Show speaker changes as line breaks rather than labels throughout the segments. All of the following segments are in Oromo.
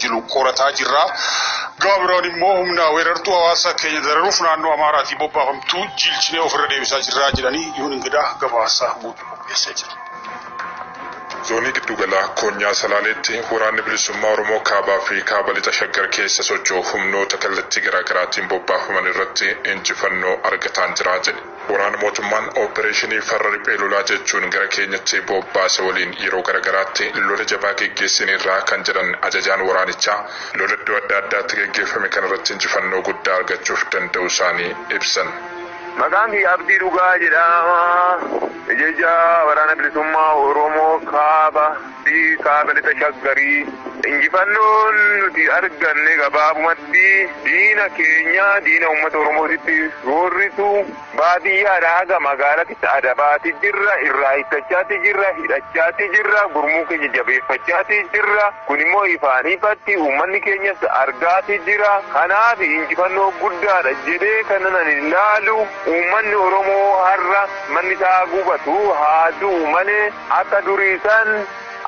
jilu qorataa jirra. Gama biraan immoo humna weerartuu hawaasa keenya dararuuf naannoo Amaaraatii bobbaafamtu jiilchinee ofirra deebisaa jirra jedhanii Yihuun Ingidaa gabaasa guutuu qopheessee jira.
Zoonii Giddugalaa Koonyaa Salaaleetti Waraanni Bilisummaa Oromoo Kaabaa fi Kaaba Lixa Shaggar keessa socho'u humnoota kallattii garaagaraatiin bobbaafaman irratti injifannoo argataan jira jedhe. Waraana mootummaan oppereeshinii farra riphee lolaa jechuun gara keenyatti bobbaase waliin yeroo gara garaatti lola jabaa geggeessineerra kan jedhan ajajaan waraanichaa, lola iddoo adda addaatti geggeeffame kanarratti injifannoo guddaa argachuuf danda'uusaanii ibsan. Maqaan kiyya
Abdii Dhugaa jedhama. Ajajaa Waraana Bilisummaa Oromoo Kaaba. Ardii Kaaba Lixa Shaggarii. Injifannoon nuti arganne gabaabumatti diina keenya diina uummata Oromootitti roorrisu baadiyyaadhaa haga magaalatitti adabaati jirra, irraa hiikkachaati jirra, hidhachaati jirra, gurmuu keenya jabeeffachaati jirra. Kun immoo ifaan ifatti uummanni keenyas argaati jira. Kanaaf injifannoo guddaadha jedhee kanan ani ilaalu uummanni Oromoo har'a manni isaa gubatu haa du'u malee, Akka durii san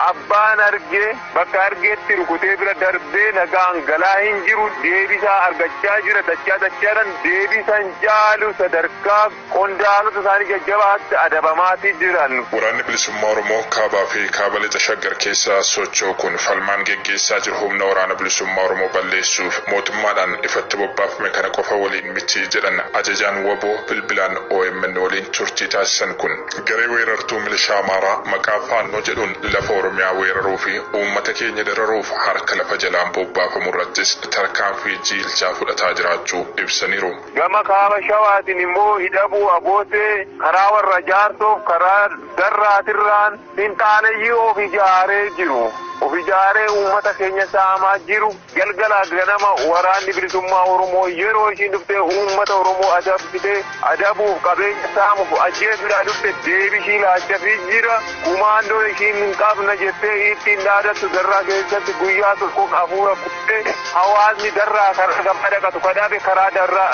abbaan arge bakka argeetti rukutee bira darbee nagaan galaa hin jiru deebisaa argachaa jira dachaa dachaadhan deebisan caalu sadarkaa qondaalota isaanii jajjabaatti adabamaati jiran. Waraanni Bilisummaa
Oromoo Kaabaa fi Kaaba Lixa Shaggar keessa socho'u kun falmaan geggeessaa jiru humna Waraana Bilisummaa Oromoo balleessuuf mootummaadhaan ifatti bobbaafame kana qofa waliin miti jedhan ajajaan wbo bilbilaan omn waliin turtii taasisan kun. Garee weerartuu milishaa Amaaraa maqaa Faannoo jedhuun lafa Oromiyaa weeraruu fi uummata keenya dararuuf harka lafa jalaan bobbaafamu irrattis tarkaanfii jiilchaa fudhataa jiraachuu ibsaniiru. Gama Kaaba
Shawaatiin immoo Hidhabuu Abootee karaa warra Jaarsoof karaa Darraatirraan finxaaleyyii of ijaaree jiru, of ijaaree uummata keenya saamaa jiru, Galgalaas ganama Waraanni Bilisummaa Oromoo yeroo ishiin dhuftee uummata Oromoo adabsitee, adabuuf, qabeenya saamuuf, ajjeesuudhaa dhufte deebii ishii laachafii jira. Kumaandoon ishiin hin qabna jettee iittiin dhaadattu Darraa keessatti guyyaa tokkoof afuura kutte. Hawaasni Darraa karaa gabaa dhaqatu ka dhabe karaa Darraa,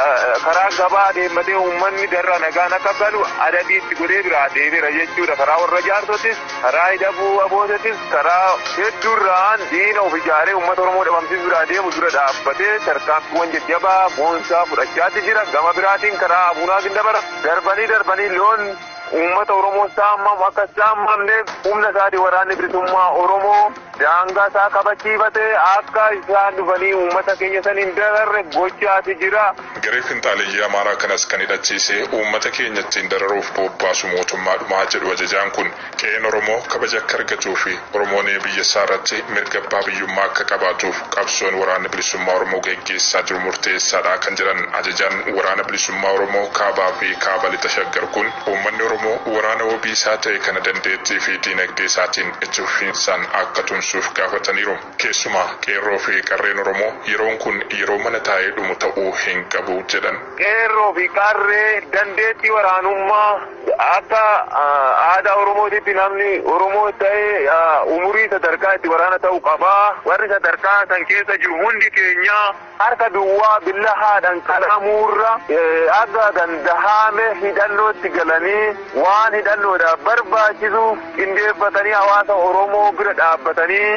karaa gabaa adeemmatee uummanni Darraa nagaan akka galu adabii itti godhee biraa deebi'era jechuudha. Karaa warra Jaarsotis. Karaa hidhabuu ABOttis karaa hedduurraan diina of ijaaree uummata Oromoo dhabamsiisuu biraa deemu dura dhaabbatee tarkaanfiiwwan jajjabaa, boonsaa fudhachaatti jira. Gama biraatiin karaa Abuna Gindabara darbanii darbanii loon uummata Oromoo saamamu akka hin saamamneef humna isaatiin Waraanni Bilisummaa Oromoo. Daangaa isaa kabachiifatee akka isaan dhufanii uummata keenya san hin dararre gochaati jira. Garee finxaaleyyii
Amaaraa kanas kan hidhachiise uummata keenya ittiin dararuuf boobbaasu mootummaadhuma jedhu ajajaan kun, qe'een Oromoo kabaja akka argatuu fi Oromoon biyya isaa irratti mirga abbaa biyyummaa akka qabaatuuf qabsoon Waraanni Bilisummaa Oromoo geggeessaa jiru murteessaadha kan jedhan ajajaan Waraana Bilisummaa Oromoo Kaabaa fi Kaaba Lixa Shaggar kun, Uummanni Oromoo waraana wabii isaa ta'e kana dandeettii fi diinagdee isaatiin itti fufiinsaan akka tumsuuf gaafataniiru. Keessumaa Qeerroo fi Qarreen Oromoo yeroon kun yeroo mana taa'ee dhumu ta'uu hin qabu jedhan. Qeerroo fi
Qarree dandeettii waraanummaa akka aadaa Oromootitti namni Oromoos ta'e umurii sadarkaa itti waraana ta'u qaba. Warri sadarkaa san keessa jiru hundi keenya. Harka duwwaa billahaadhaan qalamuurra haga dandahaame hidhannootti galanii waan hidhannoodhaaf barbaachisu qindeeffatanii hawaasa Oromoo bira dhaabbatanii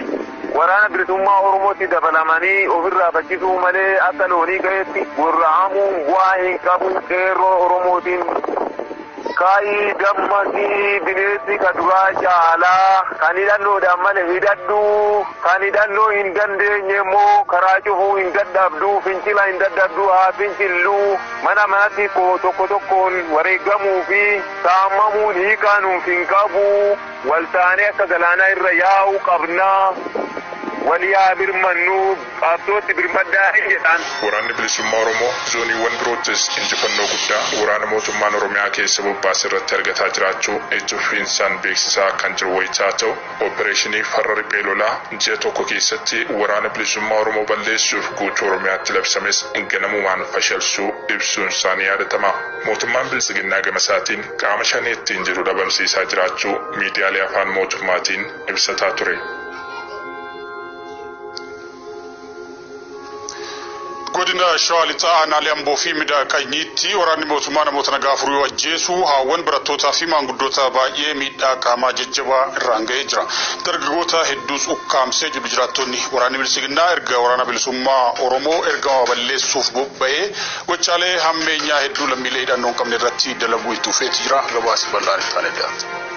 Waraana Bilisummaa Oromootti dabalamanii ofirraa faccisuu malee akka loonii qa'eetti gorra'amuun bu'aa hin qabu qeerroo Oromootiin Ka'i dammaqi bineessi ka duraa caalaa kan hidhannoodhaan male hidhadhu kan hidhannoo hin dandeenye immoo karaa cufuu hin dadhabdu fincila hin dadhabdu haa fincillu mana manatti koo tokko tokkoon wareegamuu fi saamamuun hiikaa nuuf hin qabu waltaanee akka galaanaa irra yaa'u qabna walii haa birmannu. Qabsootti birmaddaa hin jedhaan. Waraanni Bilisummaa
Oromoo zooniiwwan biroottis injifannoo guddaa waraana mootummaan Oromiyaa keessa bobbaase irratti argataa jiraachuu ijji fufiinsaan beeksisaa kan jiru wayita ta'u, oppereeshinii farra riphee lolaa ji'a tokko keessatti Waraana Bilisummaa Oromoo balleessuuf guutuu Oromiyaatti labsames ganamumaan fashalsuu ibsuunsaa ni yaadatama. Mootummaan Biltsiginnaa gamasaatiin qaama Shanee ittiin jedhu dhabamsiisaa jiraachuu miidiyaalee afaan mootummaatiin ibsataa ture.
Godina Shawaa Lixaa aanaalee Amboo fi Midaa Qanyiitti waraanni mootummaa namoota nagaa afur yoo ajjeesu haawwan barattootaa fi maanguddoota baay'ee miidhaa qaamaa jajjabaa irraan ga'ee jira. Dargaggoota hedduus ukkaamsee jiru jiraattonni waraanni bilisiginnaa erga waraana bilisummaa Oromoo ergama balleessuuf bobba'ee gochaalee hammeenyaa hedduu lammiilee hidhannoo hin qabne irratti dalaguu itti fufeeti jira. Gabaasi bal'aan itti aanee dhiyaata.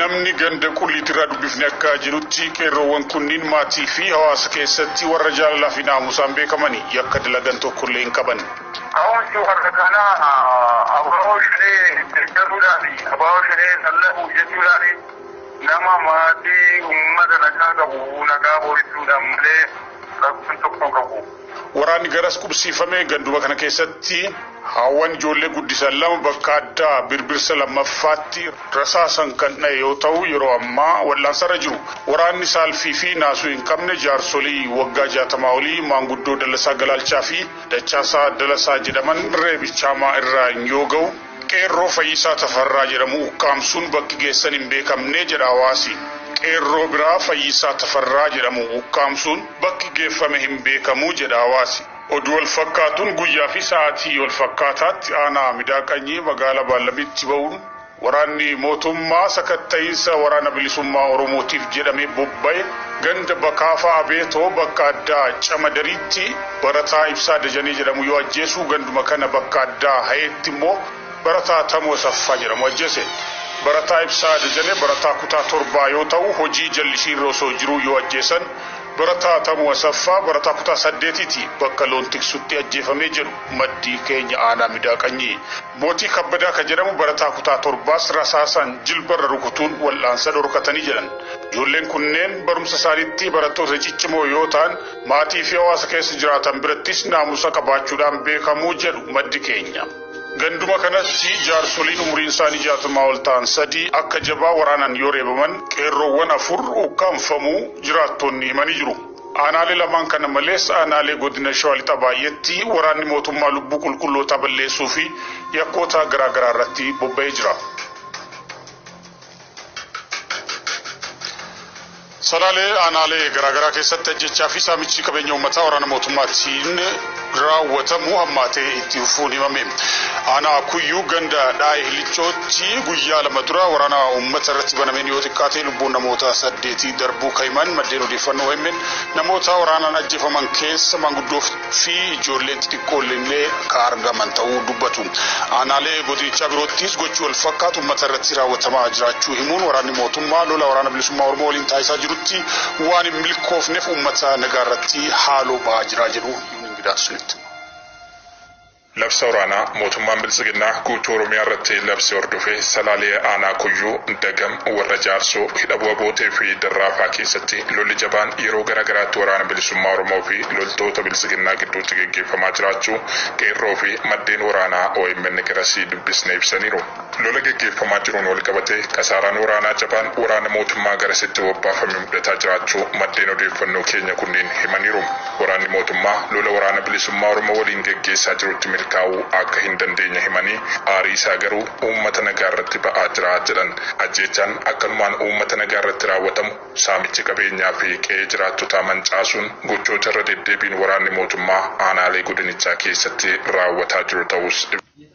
Namni ganda Qulliitiirraa dubbifne akka jedhutti, qeerroowwan kunniin maatiifi hawaasa keessatti warra jaalalaafi naamusaan beekamani. Yakka dalagan tokkollee hin qaban. Ka'umsi warra
kanaa abo Shanee deggaruudhaafi abo Shanee lallabuu jechuudhaani. Nama maatii, ummata nagaa qabu nagaa booressuudhaan malee rakkoon tokko hin qabu. Waraanni garas
qubsiifame ganduma kana keessatti haawwan ijoollee guddisan lama bakka addaa Birbirsa lammaffaatti rasaasan kan dhahe yoo tahu yeroo ammaa wal'aansarra jiru. Waraanni saalfii fi naasuu hin qabne jaarsolii waggaa jaatamaa olii maanguddoo Dallasaa Galaalchaa fi Dachaasaa Dalasaa jedhaman reebicha hamaa irraan yoo gahu, Qeerroo Fayyisaa Tafarraa jedhamu ukkaamsuun bakki geessan hin beekamne jedha hawaasi. Qeerroo biraa Fayyisaa Tafarraa jedhamu ukkaamsuun bakki geeffame hin beekamu jedha hawaasi. Oduu walfakkaatuun guyyaa fi sa'aatii walfakkaataatti aanaa Midaa Qanyii magaala Baallamitti ba'uun waraanni mootummaa sakatta'iinsa Waraana Bilisummaa Oromootiif jedhamee bobba'e ganda Bakaafaa Abeetoo bakka addaa Camadariitti Barataa Ibsaa Dajanee jedhamu yoo ajjeesu ganduma kana bakka addaa Hayeetti immoo barataa Tamoo Asaffaa jedhamu ajjeese. Barataa Ibsaa Dajanee barataa kutaa torbaa yoo ta'u hojii jallisiirra osoo jiruu yoo ajjeesan barataa Tamoo Asaffaa barataa kutaa saddeetiiti bakka loon tiksutti ajjeefame jedhu maddi keenya aanaa Midaa Qanyii. Mootii Kabbadaa ka jedhamu barataa kutaa torbaas rasaasaan jilbarra rukutuun wal'aansa dhorkatanii jedhan. Ijoolleen kunneen barumsa isaaniitti barattoota ciccimoo yoo ta'an, Maatii fi hawaasa keessa jiraatan birattis naamusa qabaachuudhaan beekamu jedhu maddi keenya. Ganduma kanatti jaarsoliin umuriin isaanii jaatamaa ol ta'an sadii akka jabaa waraanaan yoo reebaman qeerroowwan afur ukkaamfamuu jiraattonni himanii jiru. Aanaalee lamaan kana malees aanaalee godina Shawaa Lixaa baay'eetti waraanni mootummaa lubbuu qulqullootaa balleessuu fi yakkoota garaa garaa irratti bobba'ee jira. Salaalee aanaalee garaagaraa keessatti ajjeechaa fi saamichi qabeenya uummataa waraana mootummaatiin raawwatamu hammaatee itti fufuun himame. Aanaa Kuyyuu ganda Dhaa'ee Hillichootti guyyaa lama dura waraana uummata irratti banameen yoo xiqqaate lubbuun namoota saddeetii darbuu kan himan maddeen odeeffannoo OMN namoota waraanaan ajjeefaman keessa maanguddoof fi ijoolleen xixiqqoollee kan argaman ta'uu dubbatu. Aanaalee godinichaa biroottis gochi walfakkaatu uummata irratti raawwatamaa jiraachuu himuun, waraanni mootummaa lola Waraana Bilisummaa Oromoo waliin taasisaa jirutti waan hin milkoofneef uummata nagaarratti haaloo ba'aa jira jedhu Yuun Ingidaatu Sinitti hima.
Labsa waraanaa mootummaan Biltsiginnaa guutuu Oromiyaa irratti labse hordofee Salaalee Aanaa Kuyyuu, Dagam, Warra Jaarsoo, Hidha Bu'a Bootee fi Darraafaa keessatti lolli jabaan yeroo gara garaatti Waraana Bilisummaa Oromoo fi loltoota Biltsiginnaa gidduutti geggeeffamaa jiraachuu Qeerroo fi maddeen waraanaa omn garasii dubbisne ibsaniiru. Lola geggeeffamaa jiruun walqabatee kasaaraan waraanaa jabaan waraana mootummaa garasitti bobbaafame mudataa jiraachuu maddeen odeeffannoo keenya kunniin himaniiru. Waraanni mootummaa lola Waraana Bilisummaa Oromoo waliin geggeessaa jirutti milkaa'uu akka hin dandeenye himanii, aarii isaa garuu uummata nagaa irratti ba'aa jira jedhan. Ajjeechaan akkanumaan uummata nagaa irratti raawwatamu, saamichi qabeenyaa fi qe'ee jiraattotaa mancaasuun gochoota irra deddeebiin waraanni mootummaa aanaalee godinichaa keessatti raawwataa jiru ta'uus ibsaniiru.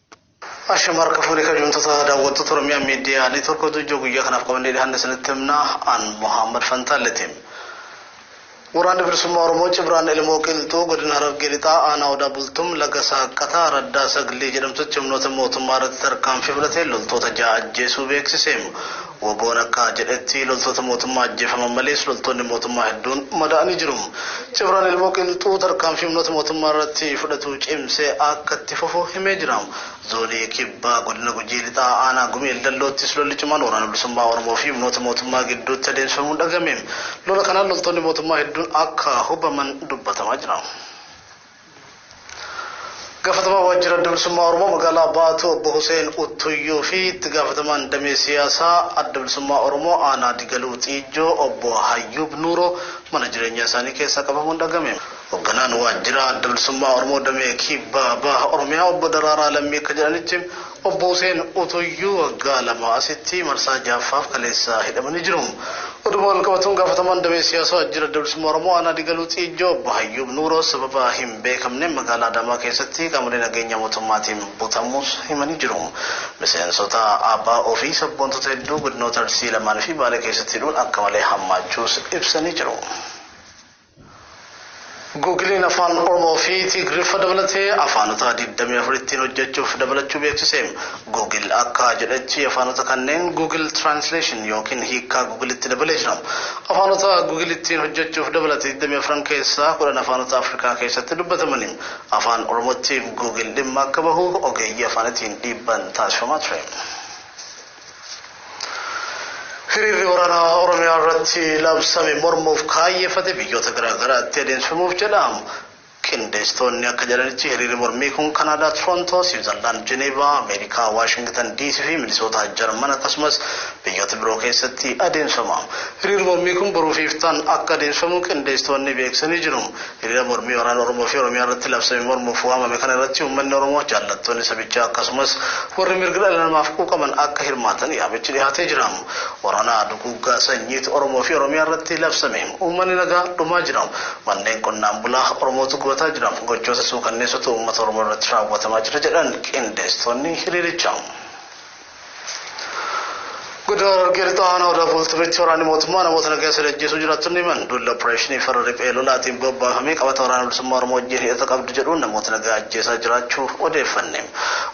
Ashama harka fuune kabjamtoota daawwattoota Oromiyaa Miidiyaa Neetwork oduu ijoo guyyaa kanaaf qabannee dhihaanne isinitti himna an Muhammad Fantaalleeti. Waraanni Bilisummaa Oromoo Cibraan Ilmoo Qilxuu godina Harargee Lixaa aanaa Odaa Bultum laga Saaqqataa araddaa Saglii jedhamtutti humnoota mootummaa irratti tarkaanfii fudhatee loltoota ja'a ajjeesuu beeksise. Wbo'n akka jedhetti loltoota mootummaa ajjeefaman malees loltoonni mootummaa hedduun madaa'anii jiru. Cibraan Ilmoo Qilxuu tarkaanfii humnoota mootummaa irratti fudhatu cimsee akka itti fufu himee jira. Zoonii Kibbaa Godina Gujii Lixaa Aanaa Gumii Eldelloottis lolli cimaan Waraana Bilisummaa Oromoo fi humnoota mootummaa gidduutti adeemsifamuun dhagahame. Lola kanaan loltoonni mootummaa hedduun akka hubaman dubbatamaa jira. Gaafatamaa Waajjira Adda Bilisummaa Oromoo magaalaa Baatuu Obbo Huseen Uttuyyuu fi itti gaafatamaan damee siyaasaa Adda Bilisummaa Oromoo aanaa Digaluu Xiijjoo Obbo Hayyuub Nuuroo mana jireenyaa isaanii keessaa qabamuun dhagame. Hogganaan Waajjira Adda Bilisummaa Oromoo damee Kibbaa Baha Oromiyaa Obbo Daraaraa Lammii akka jedhanitti Obbo Huseen Utuyyuu waggaa lamaa asitti marsaa jahaffaaf kaleessa hidhamanii jiru. Oduuma walqabatuun gaafatamaan damee siyaasaa Waajjira Adda Bilisummaa Oromoo Aanaa Digaluu Xiijjoo Obbo Hayyuub Nuuroo sababa hin beekamneen magaalaa Adaamaa keessatti qaamolee nageenyaa mootummaatiin butamuus himanii jiru. Miseensota ABO fi sabboontota hedduu godinoota Arsii lamaan fi Baalee keessatti hidhuun akka malee hammaachuus ibsanii jiru. Guugiliin Afaan Oromoo fi Tigriffa dabalatee afaanota 24 ittiin hojjechuuf dabalachuu beeksise. Guugil akka jedhetti afaanota kanneen Google Translation yookiin hiikkaa Guugilitti dabalee jira. Afaanota Guugil ittiin hojjechuuf dabalate 24 keessaa 10 afaanota Afrikaa keessatti dubbatamani. Afaan Oromootti Guugil dhimma akka bahu ogeeyyii afaanitiin dhiibbaan taasifamaa ture. Hiriirri waraanaa Oromiyaa irratti labsame mormuuf kaayyeffate biyyoota garaa garaatti adeemsifamuuf jedhaamu. Qindeessitoonni akka jedhanitti hiriirri mormii kun Kanaadaa Torontoo, Siwiizarlaand Jeneevaa, Ameerikaa Waashingitan DC fi Minisootaa Jarman akkasumas biyyoota biroo keessatti adeemsifama. Hiriirri mormii kun boruu fi iftaan akka adeemsifamu qindeessitoonni beeksisanii jiru. Hiriira mormii waraana Oromoo fi Oromiyaa irratti labsame mormuuf waamame kana irratti uummanni Oromoo, jaallattoonni sabichaa akkasumas warri mirga dhala namaaf quuqaman akka hirmaatan yaamichi dhihaatee jira. Waraana duguuggaa sanyiitu Oromoo fi Oromiyaa irratti labsame. Uummanni nagaa dhumaa jira. Manneen qonnaan bulaa Oromootu gubataa jira. Gochoota suukanneessootu uummata Oromoo irratti raawwatamaa jira jedhan qindeessitoonni hiriirichaa. Godina Harargee Lixaa Aanaa Odaa Bultumitti waraanni mootummaa namoota nagaa sadi ajjeesuu jiraattonni himan duula opereeshinii farra riphee lolaatiin bobbaafamee qabata waraana bilisummaa Oromoo wajjin hidhata qabdu jedhuun namoota nagaa ajjeesaa jiraachuu odeeffanne.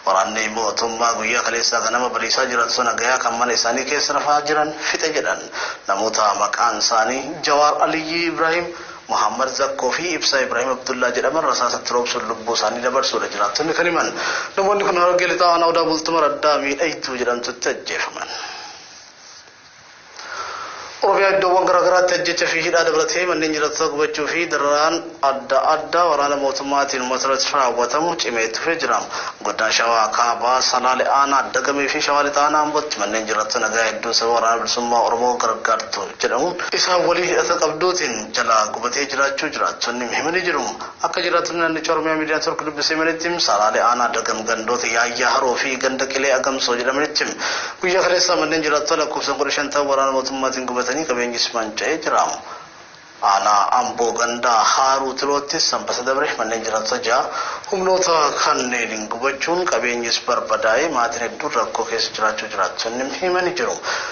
Waraanni mootummaa guyyaa kaleessaa ganama bariisaa jiraattota nagayaa kan mana isaanii keessa rafaa jiran fixe jedhan. Namoota maqaan isaanii Jawaar Aliyyii Ibraahim Mohaammad Zakkoo fi Ibsaa Ibraahim Abdullaa jedhaman rasaasa itti roobsuun lubbuu isaanii dabarsuudha jiraattonni kan himan. Namoonni kun Harargee Lixaa Aanaa Odaa Bultum araddaa Miidhaytuu jedhamtutti ajjeefaman. Oromiyaa iddoowwan garaagaraatti ajjecha fi hidhaa dabalatee manneen jiraattotaa gubachuu fi dararaan adda addaa waraana mootummaatiin uummata irratti raawwatamu cimee itti fufee jira. Godina Shawaa Kaabaa Salaale Aanaa Dagamee fi Shawaa Lixaa Aanaa Ambootti manneen jiraattotaa nagaa hedduun sababa waraana bilisummaa Oromoo gargaartuun jedhamu isaan waliin hidhata qabduutiin jalaa gubatee jiraachuu jiraattonni himanii jiru. Akka jiraattonni naannichaa Oromiyaa Miidiyaa Network dubbise himanitti saraalee aanaa Dagam gandoota Yaayyaa Haroo fi ganda Qilee Agamsoo jedhamanitti guyyaa kaleessaa manneen jiraattota lakkoofsan kudha shan ta'an waraana mootummaatiin gubatanii qabeenyis manca'ee jira. Aanaa Amboo ganda Haaruu Tiloottis sanbata dabre manneen jiraattota ja'a humnoota kanneeniin gubachuun qabeenyis barbadaa'ee maatiin hedduun rakkoo keessa jiraachuu jiraattonni himanii jiru.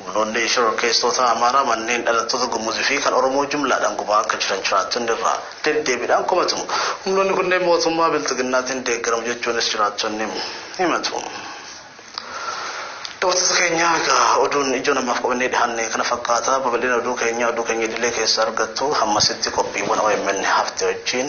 Humnoonni shororkeessitoota Amaaraa manneen dhalattoota Gumuz fi kan Oromoo jumlaadhaan gubaa akka jiran jiraattonni irra deddeebiidhaan komatu. Humnoonni kunneen mootummaa Bilxiginnaatiin deeggaramu jechuunis jiraattonni himatu. Daawwattoota keenya egaa oduun ijoo namaaf qabannee dhihaanne kana fakkaata. Babal'ina oduu keenyaa oduu keenya idilee keessaa argattu. Hammasitti qophiiwwan OMN hafte wajjin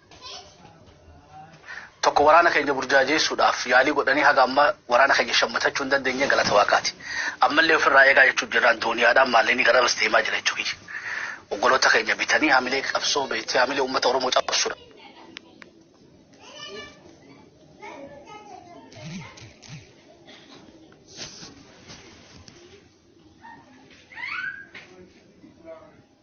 tokko waraana keenya burjaajeessuudhaaf yaalii godhanii haga amma waraana keenya shammatachuu hin dandeenye galata waaqaati. Ammallee ofirraa eegaa jechuun jirraan dooniyaadhaan maalleenii gara bas deemaa jira jechuu kiyya. Oggoloota keenya bitanii hamilee qabsoo beektee hamilee uummata Oromoo cabsuudha.